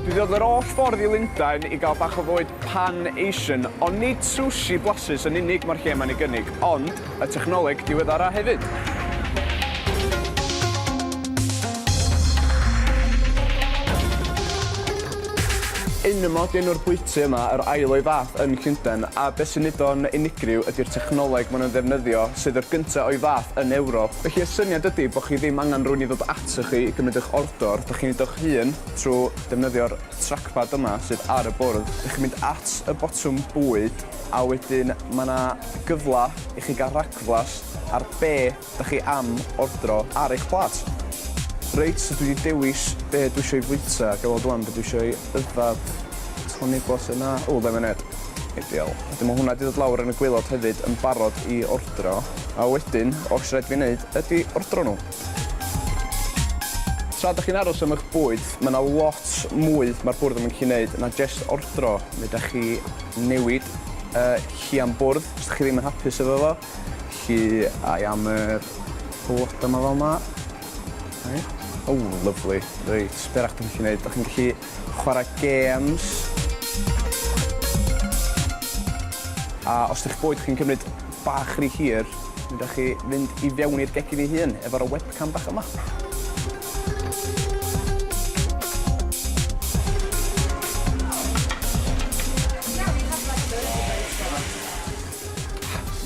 Dwi 'di dod yr holl ffordd i Lundain i gael bach o fwyd pan Asian, ond nid sushi blasus yn unig mae'r lle yma'n ei gynnig, ond y technoleg diweddara hefyd. Enema ydy enw'r bwyty yma, yr ail o'i fath yn Llundain, a be sy'n neud o'n unigryw ydy'r technoleg maen nhw'n ddefnyddio, sydd yr gynta' o'i fath yn Ewrop. Felly y syniad ydy bo' chi ddim angen rhywun i ddod atoch chi i gymryd eich ordr, Dwr, dych chi'n wneud o'ch hun trwy defnyddio'r trackpad yma sydd ar y bwrdd. Dych chi'n mynd at y botwm bwyd a wedyn mae 'na gyfle i chi gael rhagflas ar be dych chi am ordro ar eich plât. Reit, so dwi 'di dewis be dwi isio i fwyta, ga i weld ŵan be dwi isio i yfed. Tonic water 'na, ww lemonêd, ideal. Wedyn mae hwnna 'di dod lawr yn y gwaelod hefyd yn barod i ordro a wedyn oll sy raid i fi 'neud ydi ordro nhw. Tra dach chi'n aros am eich bwyd, mae yna lot mwy mae'r bwrdd yn mynd i wneud na jest ordro. Mi ydach chi newid y lli am bwrdd os dach chi ddim yn hapus efo fo. Lli ai am yr bloda 'ma fel 'ma. Reit. O, lyfli. Reit, be' arall 'dach chi'n gallu neud? Dach chi'n gallu chwara gêms. A os 'di'ch bwyd chi'n cymryd bach ry hir, mi wnewch chi fynd i fewn i'r gegin ei hun efo'r y webcam bach yma.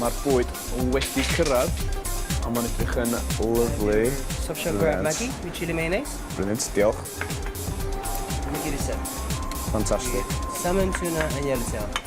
Ma'r bwyd wedi cyrradd a ma'n edrych yn lyfli. Soft shell crab Maggi with chilli mayonnaise. Brilliant, diolch. Fantastic. Salmon, tuna and yellowtail.